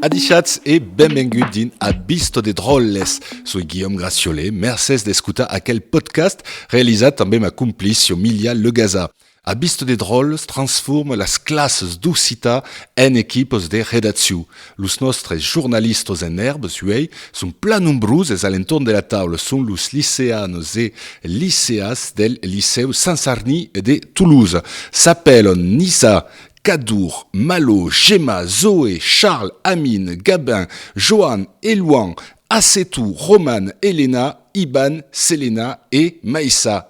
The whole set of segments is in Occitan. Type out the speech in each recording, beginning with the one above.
Adishatz e benvengut din a Bisto de Dròlles. Soi Guillaume Graciole, mercés d'escutar aquel podcast realizat amb ma complice Milia Legaza. A Bisto de Dròlles transforma las classes d'occitan en equipos de redaccion. Los nòstres jornalistas en èrbes, uèi, son plan nombroses a l'entorn de la taula. Son los liceanos e liceas del Licèu Sant Sarni de Tolosa. S'apèlan Nisa, Cadour, Malo, Gemma, Zoé, Charles, Amin, Gabin, Joan, Elouan, Asetou, Roman, Elena, Iban, Selena e Maissa.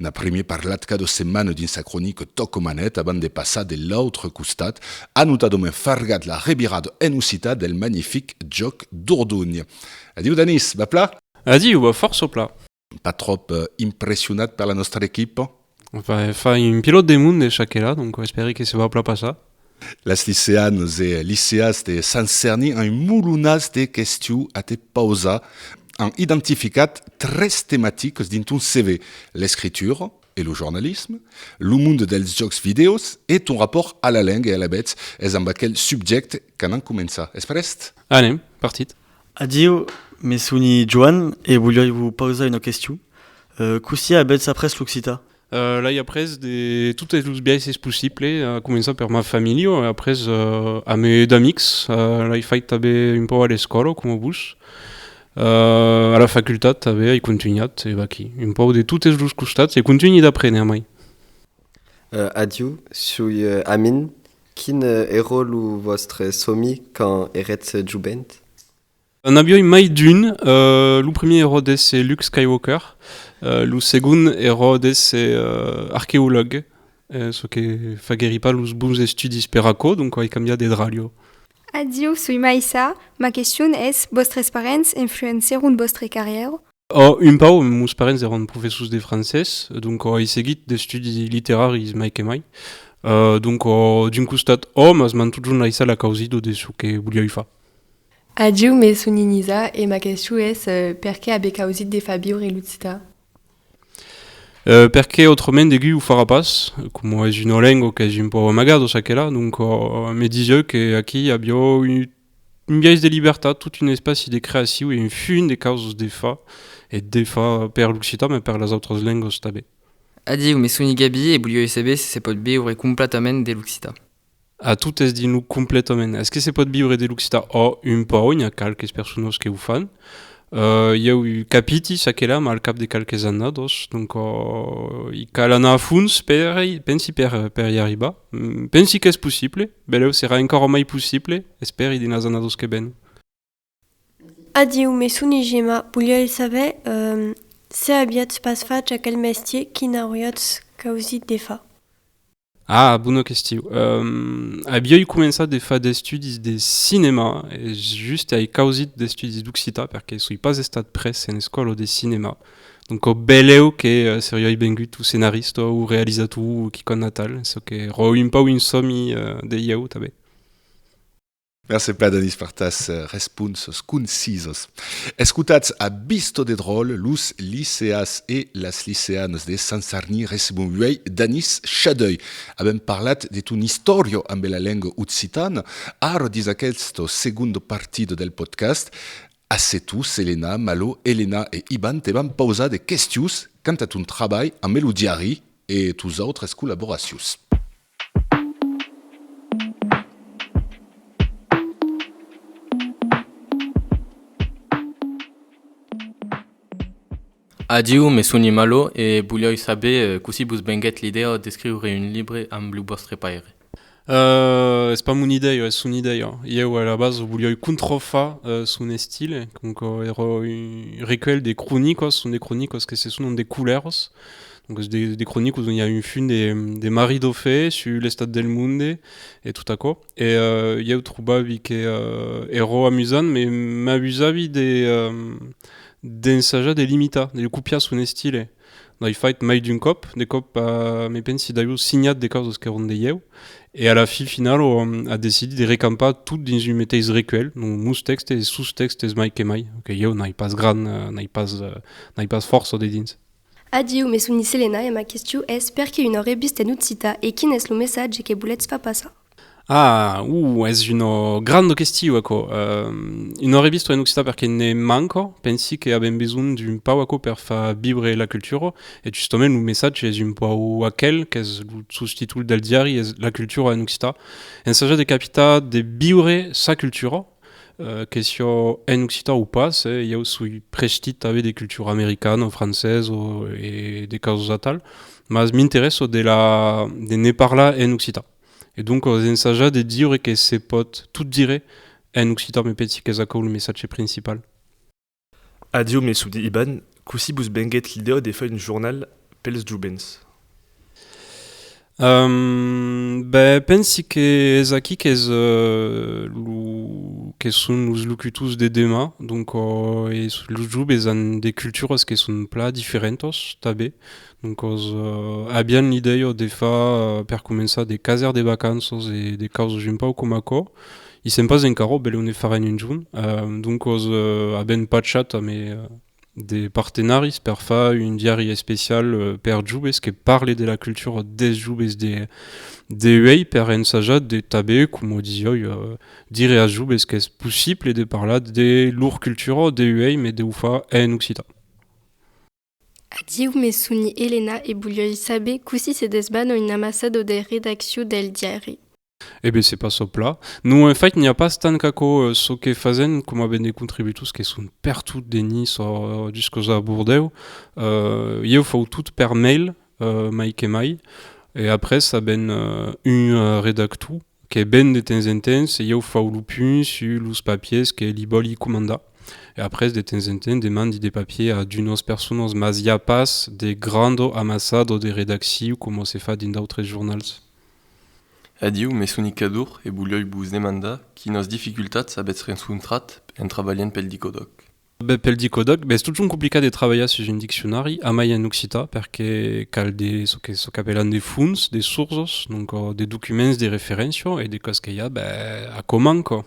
N'a primier parlat cada setmana dins sa cronica Tòc o Manet abans de passar de l'autre costat a notadament fargat la revirada en occitan del magnific Jòc Dordonh. Adiu Danís, va pla? Adiu, va fòrça pla. Pas tròp impressionat per la nòstra equipa? Enfin, un pilòt de monde, çaquelà, donc espèri que se va pla passar. Las liceanes e liceas de Sant Cerni an un molonàs de questiu a te pausar. An identificat tres tematiques dins ton CV, l'escritura e lo jornalisme, lo monde dels jòcs vidèos e ton rapòrt a la lenga e alavetz es amb aquel subjècte qu'anam començar. Es prèst? Anem, partit! Adieu, me soni Joan e voliái vos pausar una questiu. Costiá avètz après l'occitan? Euh, l'ai après de totes los biaisses possibles, a començar per ma familha, e après euh, a me d'amics, euh, l'ai fait tanben un pau a l'escòla, coma vos. Euh, a la facultat tanben ai continuat, e vaquí, un pau de totes los costats, e continui d'aprene amai. Euh, adiu, sui euh, Amin. Quin euh, èra lo vòstre somi quand èretz jovent? N' avioi mai d'un, lo primier eró d'èsser Luke Skywalker, lo segond eró d'èsser arqueològue, çò que faguèri pas los bons estudis per aquò, donc ai cambiat de dralho. Adieu, soi mai ça, ma question es, vòstres parents influencèron vòstre carrièra? Òh, un pauc, meus parents erón professors de francés, donc ai seguit d'estudis literaris mai que mai, donc d'un costat òh, mas m'an totjorn laissat la causido de çò que volioi far. Agiu me son inisa e ma question es, perqué aver causit de far viure l'occità? Perqué autrament deguí o farà pas, coma es una lengua qu'es un pauc amagada o çaquelà, donc me disieu que aquí aviá un biais de libertat, tot un espaci de creaciu e un funt de causas de far e desfar per l'occità mas per las autras lengas tanben. Agiu me son igabí e volieu saber se se pòt viure completament de l'occità. A totes dins lo completament. Es que se pòt viure de l'occitan? Ò, un pauc, n'i a qualques personas que o fan. Uh, ieu capiti ça que là, ma al cap de qualques annados, donc uh, i cal anar a fons per, pensi per, per i arribar. Mm, pensi qu'es possible, beleu serà encara mai possible, esperi dins las annados que ven. Adieu, me soni Gema, voliái saber se aviatz pas fach aquel mestier, quin auriatz causit de far? Ah, bona question. Aviái començat de far d'estudis de cinema e just ai causit d'estudis d'occitan perque soi pas estat pres en escòla de cinema. Donc au beleu que seriái vengut o scenarista o realizator o quicòm atal, çò que rò un pauc un sòmi de ieu tanben. Merci plan Danis per tas responsos concisos. Escotatz a Bisto de Dròl, los liceas e las liceanas de Sant Sarni recebon uèi Danis Chadeuil. Avèm parlat de ton istòria ambe la lenga occitana, ara dins aquesto segundo partido del podcast. A se tu, Selena, Malo, Elena e Iban te vam pausar de questions quant a ton trabalh ambe lo diari e tos autres collaboracions. Adiu, me soni Malo e voliái saber cossí vos venguèt l'idèa d'escriure un libre amb lo vòstre paire? Uh, es pas mon idèia, es son idèia. Ieu a la base voliái controfar son estile, donc èra un recuelh de cronicas, son de cronicas que se sonan de culèras, Donques de, de cronicos on i a un fun de, de Marie Dauphé sur l'estat del monde e tot aquò. E uh, ieu trobavi que uh, ero amusant, me m'abusavi de um, d'ensajar de l'imitar, de copiar son estile. N'ai fait mai d'un còp, de còp uh, me pensi d'avior signat de causas qu'eron de ieu, e a la fin final o um, a decidit de recampar tot dins un meteis recuelh, donc meus tèxtes e sos tèxtes mai que mai, que ieu n'ai pas gran, uh, n'ai pas, uh, n'ai pas fòrça dedins. Adieu, me son dise Lena e ma questiu es perque una revista en occita e quin es lo messatge que boletz far passar? Ah! Uh! Es una granda questiu aquò. Una revista en occita perque ne manca, pensi que avèm besonh d'un pau aquò per far viure la cultura e justament lo messatge es un pau aquel qu'es lo sostítul del diari es la cultura en occita, ensajar de capitar, de viure sa cultura. Que siá en occitan o pas, ieu soi prèshtit tanben de cultura americana o francesa o de causas atal, mas m'interèsso de ne parlar en occitan. E donc as ensajat de diure que se pòt tot dire en occitan, me pensi qu'es aquò lo messatge principal. Adieu Messoudi Iban, cossí vos venguèt l'idèa de far un jornal pels jovents? Ehm, ben, pensi que es aquí qu'es lo que son los locutors de demà, donc los joves an de culturas que son plan diferentas tanben, Doncas, avián l'idèia de far per començar de caser de vacanças e de causas un pauc coma aquò. I sèm pas encara, bèl o ne farèn un jorn. Doncas, avèm pachat amé de partenaris per far un diari especial per joves que parle de la cultura des joves de uèi per ensajar de tanben, coma disiái, dire as joves qu'es possible de parlar de lor cultura de uèi, mès de o far en occitan. Adieu, me soni Elena e volioi saber cossí se desbana un amassador de redaccion del diari. E ben, se passò pla. Non, en fait, n'i a pas tant qu'aquò. Çò que fasèn coma ben de contributors que son pertot de Nice o jusques a Bordèu, ieu fau tot per mail, mai que mai, e après a ben un redactor Que ben de temps en temps ieu fau lo punt sus los papiers que li vòli comandar e après de temps en temps demandi de papiers a d'unos personas mas i a pas de grand amassado de redacciu coma se fa dins d'autres jornals. Adieu, me soni Cadour e volioi vos demandar quinas dificultats avètz rencontrat en trabalhant pel Dicodòc. Ben, pel dicodòc, ben es totjorn complicat de trabalhar sus un diccionari, amai en occitan, perque cal de, çò que çò qu'apèlan de fons, de sourços, donc de documents de referéncia, e de còs que i a, ben, a coman, quò.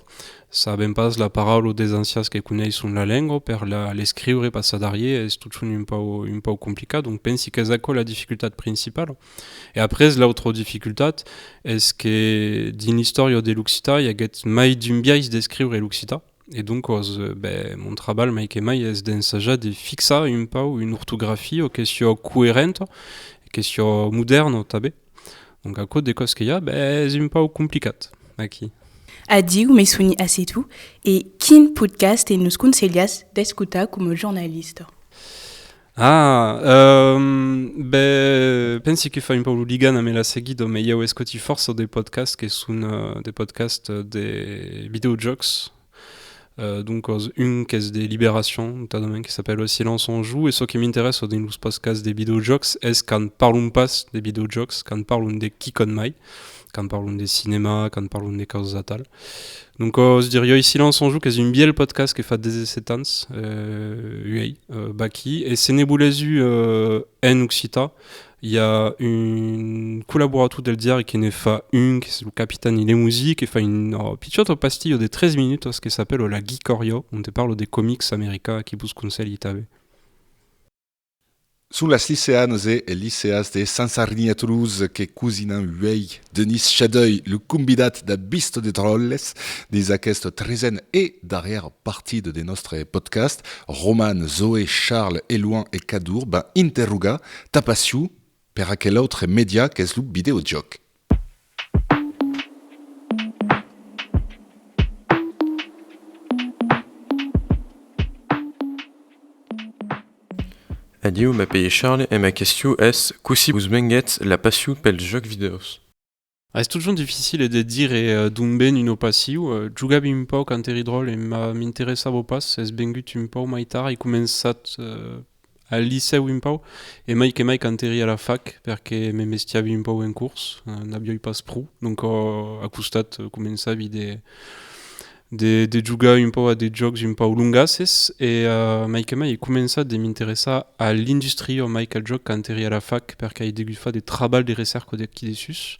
Sabèm pas la paraula o des ancians que coneisson la lengua, per la l'escriure, passar darrier, es totjorn un pauc un pauc complicat, donc pensi qu'es aquò la dificultat principala. E après, l'autra dificultat es que dins l'istòria de l'occitan i aguèt mai d'un biais d'escriure l'occitan, E doncos, ben, mon trabalh mai que mai es d'ensajar de fixar un pau una ortografia o que siò coerenta, que siò modèrna tanben. Donc aquò de còs que i a, ben, es un pau complicat aquí. Adiu, me soni Asetou, e quin podcast nos conselhas d'escotar coma jornalista? Ah, ehm, be, pensi que fa un pau lo ligan amb la seguido, me ieu escoti força de podcast que son uh, de podcast de videojocs, Uh, donc os un qu'es de liberacion, notadament que s'appelle Le silence en joue, e çò que m'interessa dins los podcasts de videojocs es quand parlon pas de videojocs, quand parlon de quicòt mai. quand parlons de cinema, quand parlons de causas atal. Donc, os dirioi Silence en Jou, qu'es un biel podcast que fa 17 ans, euh, uei, euh, baqui, e se ne voulez u euh, en occità, hi a un collaborator del diari que ne fa un, que és lo Capitan Ilemousi, que fa un oh, pichot pastillo de 3 minutos que s'apelo La Geekorio, on te parlo de comics americà, qui vos conselhi tanben. Son las liceanes e es liceas de Sansarniètoluz que cosinan uèi Denis Chadeuil, lo convidat d'a Bistro de Tròlles dins aqueste tresen e darrièr partit de nòstre podcast. Roman, Zoé, Charles, Elouan e Cadour van interrogar Tapasciu per aquel autre media qu'es lo videojòc. Adieu, m'apelhe Charles e ma question es cossí vos venguètz la passion pels jòcs vidèos? Es totjorn dificile de dire d'ont ven una passion. Jogava un pauc a Enteridròl e m'interessava pas, es vengut un pauc mai tard, ai començat Al licèu un pauc, e mai que mai quand èri a la fac, perque me mestiavi un pauc en curs, n'avioi pas pro, donc a costat començavi de de jogar un pauc a de jòcs un pauc longasses, e mai que mai ai començat de m'interessar a l'industria mai qu'al jòc quand èri a la fac, perque ai degut far de trabalhs de recèrca d'aquí dessús,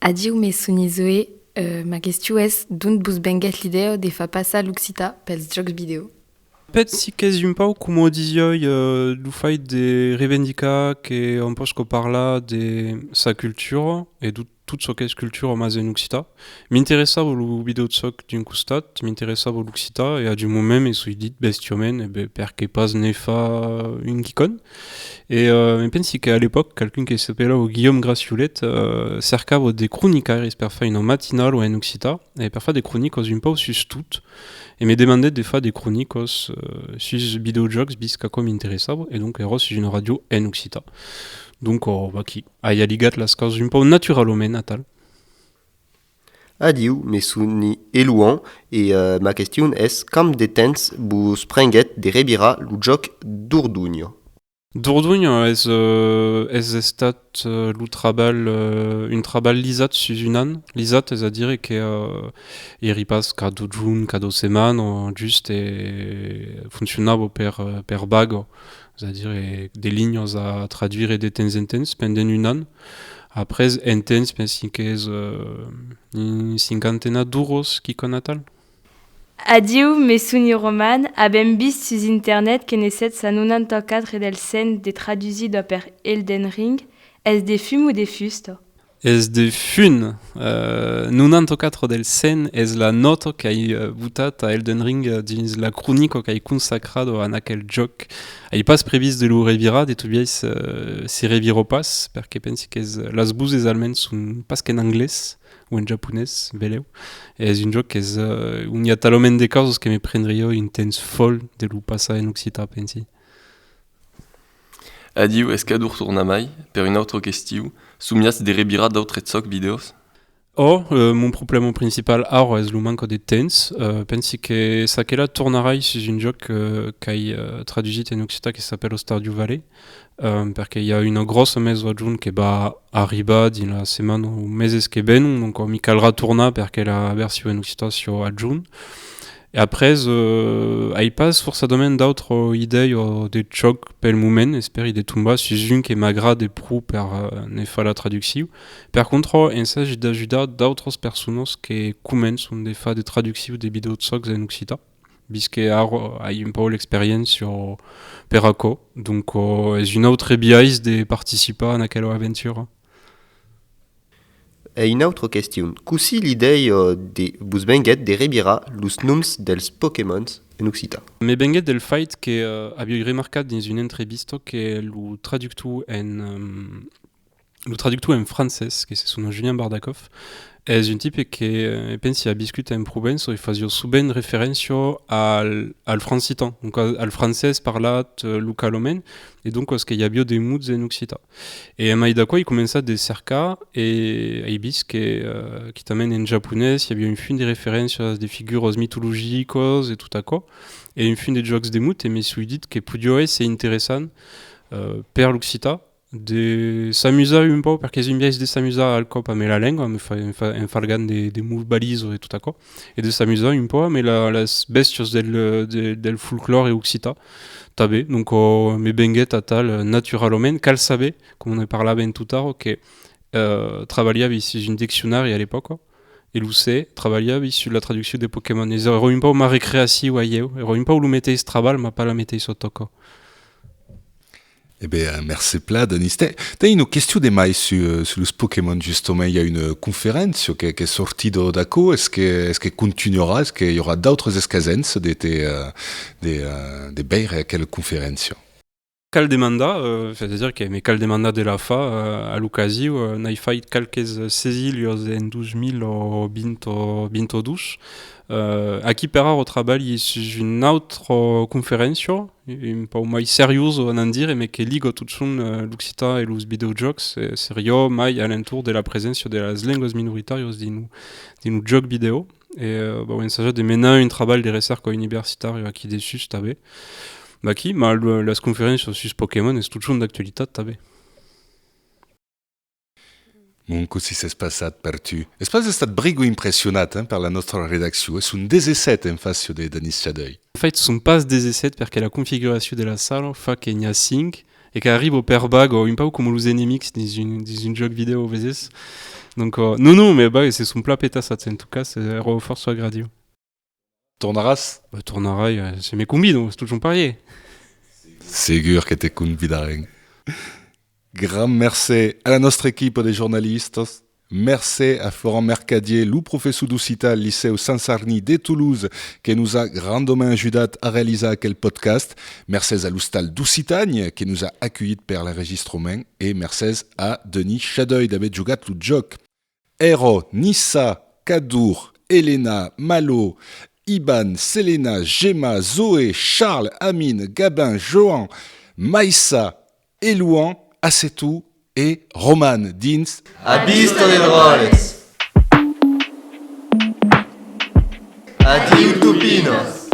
Adiu mes sonis Zoé, ma questiu es d'ont bus benguèt l'idèo de far passar l'occitan pels jòcs vidèo? Pèt si qu'es un pauc coma disioi lo fait de revendicar que òm posca parlar de sa cultura e de tot çò qu'es cultura mas en occitan. M'interessava lo vidèojòc d'un costat, m'interessava l'occitan e adiu moment me soi dit bestiaument, e ben perqué pas ne far un quicòne? E me pensi qu'à l'epòca, qualqu'un que s'apelava Guillaume Graciolet cercava de cronicaires per far una matinala en occitan e per far de cronicas un pauc sus tot, e me demandèt de far de cronicas sus videojòcs vist qu'aquò m'interessava, e donc èra sus una ràdio en occitan. Donc, vaquí, ai aligat las causas un pauc naturalament atal. Adiu, me soni Elouan e ma question es camp de temps vos prenguèt de revirar lo jòc Dordogne? Dordogne es es estat lo trabalh, un trabalh lisat sus un an, lisat es a dire que eri pas qu'a dotjorn, qu'a dotseman, just e foncionava per per vaga, es a dire de linhas a traduire de temps en temps pendent un an. Après un temps, pensi qu'es un cinquantena d'uros, quicò natal. Adieu, me soni roman, avèm vist sus internet que ne 794 dels 100 de tradusits d'ò per Elden Ring, es de fum o de fusta? Es de fum! 94 dels 100 es la nòta qu'ai botat a Elden Ring dins la cronica qu'ai consacrada a aquel jòc Ai pas previst de lo revirar, de tot biais se reviro pas, perque pensi qu'es las buses almens son pas qu'en anglés o en japonés, veleu, e es un jòc qu'es on i a talament de causas que me prendrió un temps fòl de lo passar en occitan, pensi. Adiu, es cador tornar mai per un autre qu'estiu, somiatz de revirar d'autres zòc videos? Or, mon problèma principal ara es lo manca de temps. Pensi que s'aquela tornarai sus un jòc qu'ai tradussit en occitan que s'apèla Stardew Valley, perque i a una gròssa maison a jorn que va arribar dins las setmanas o meses que venon, doncas mi calrà tornar perque la version en occitan siá a jorn. E après, ai pas forçadament d'autra idèia de jòc pel moment, espèri de tombar sus un que m'agrade pro per ne far la traduccion. Per contra, ensagi d'ajudar d'autras personas que començan de far de traducciu de videojocs en occitan, vist que ara ai un pauc l'experiéncia per aquò, donc es un autre biais de participar en aquela aventura. E una autra question, cossí l'idèia vos venguèt de revirar los noms dels Pokémons en occitan? Me venguèt del fait que aviái remarcat dins una entrevista que lo traductor en. Lo traductor en francés, que se sona Julien Bardakov, es un tipe que eh, e pensi a biscut en Provenço e fasio subent referéncia al, al francitan, donc al francés parlat eh, localament, e donc os que i avio de muts en occitan. E emai d'aquò i començat de cercar e ai vist que, eh, quitament en japonés, i avio un fin de referéncias de figuros mitologicos e tot aquò, e un fin de jòcs de muts e me sui dit que podio èsser interessant eh, per l'occitan, De s'amusar un pauc, perque es un biais de s'amusar al còp ame la lengua, ame fa, en, fa, en falgant de, de mot balizo e tot aquò, e de s'amusar un pauc ame la, las bèstias del, de, del folclòre occità tanben. Donc o, me venguèt atal naturalament. Cal saber, coma ne parlaven totara, que eh, trabalhavi sus un diccionari a l'epòca, e lo se, trabalhavi sus la traduccion de Pokémon. Es, èra un pauc ma recreaciu a ieu, èra un pauc lo meteis trabalh, ma pas la meteissa tòca. E be, mercé pla, Denis. Ten, ten ino questiu de mai su, su los Pokémon, justement. I a una conferéncia que, qu'es sortido d'aquo. Es que, es que continuarà? Es que i aurà d'autres escasents de te, de, de veire aquela conferéncia? Cal demandar, es a dire que me cal demandar de la fa, a l'ocasiu, n'ai fait qualques sesilhos en 2020 o 22. Aquí per ara trabalhi sus una autra conferéncia, e un pau mai seriós o anant dire, me que liga totjorn l'occitan e los videojòcs, seriò mai a l'entorn de la preséncia de las lengas minoritàrias dins lo, dins lo jòc vidèo, e bau ensajat de menar un trabalh de recerca universitària aquí dessús tanben, d'aquí, mas las conferéncias sus Pokémon es totjorn d'actualitat tanben. Mon cossí s'es passat per tu. Es pas estat brigo impressionat per la nòstra redaccion, es un 17 en facion de Danis Chadeuil. En fait son pas 17 perque la configuracion de la sala fa que n'i a 5 e qu'arribo per bago, un pauc coma los enemics dins un jòc vidèo, veses? Donc non, non, me bag, se son plan petassats, en tot cas, ero fòrça agradiu. Tornaràs? Bah, tornarai, se me convidan, es totjorn parier. Segur que te convidarem. Grand mercé a la nòstra equipa de jornalistas, mercé a Florent Mercadier, lo professor d'occitan al Licèu Sant Sarni de Toulouse que nos a grandament ajudat a realizar aquel podcast, mercés a l'Ostal d'Occitània que nos a aculhit per l'enregistrament e mercés a Denis Chadeuil d'aver jogat lo jòc. Ero, Nissa, Cadour, Elena, Malo, Iban, Selena, Gemma, Zoé, Charles, Amine, Gabin, Joan, Maissa, Elouan, Assetou e Roman dins. A vista de dròlles! Adiu, topinos!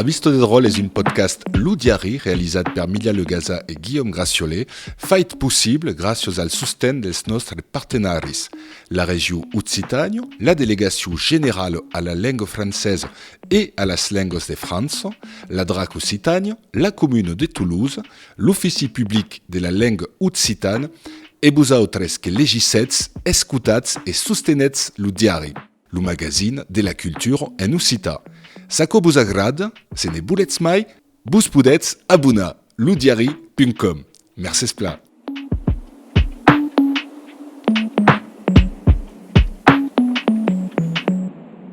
A vista de dròl es un podcast Lo Diari realizat per Milia Legasa e Guillaume Graciole, fait possible gràcias al sosten dels nòstres partenaris, la Regió Occitània, la Delegacion Generala a la Lenga Francesa e a las Lengas de França, la drac Occitània, la Comuna de Toulouse, l'Ofici Public de la Lenga Occitana e vosautres que legissetz, escotatz e sostenètz Lo Diari. Lo magazin de la cultura en occitan. S'aquò vos agrad, se ne volètz mai, vos podètz abonar, lodiari.com. Mercés plan!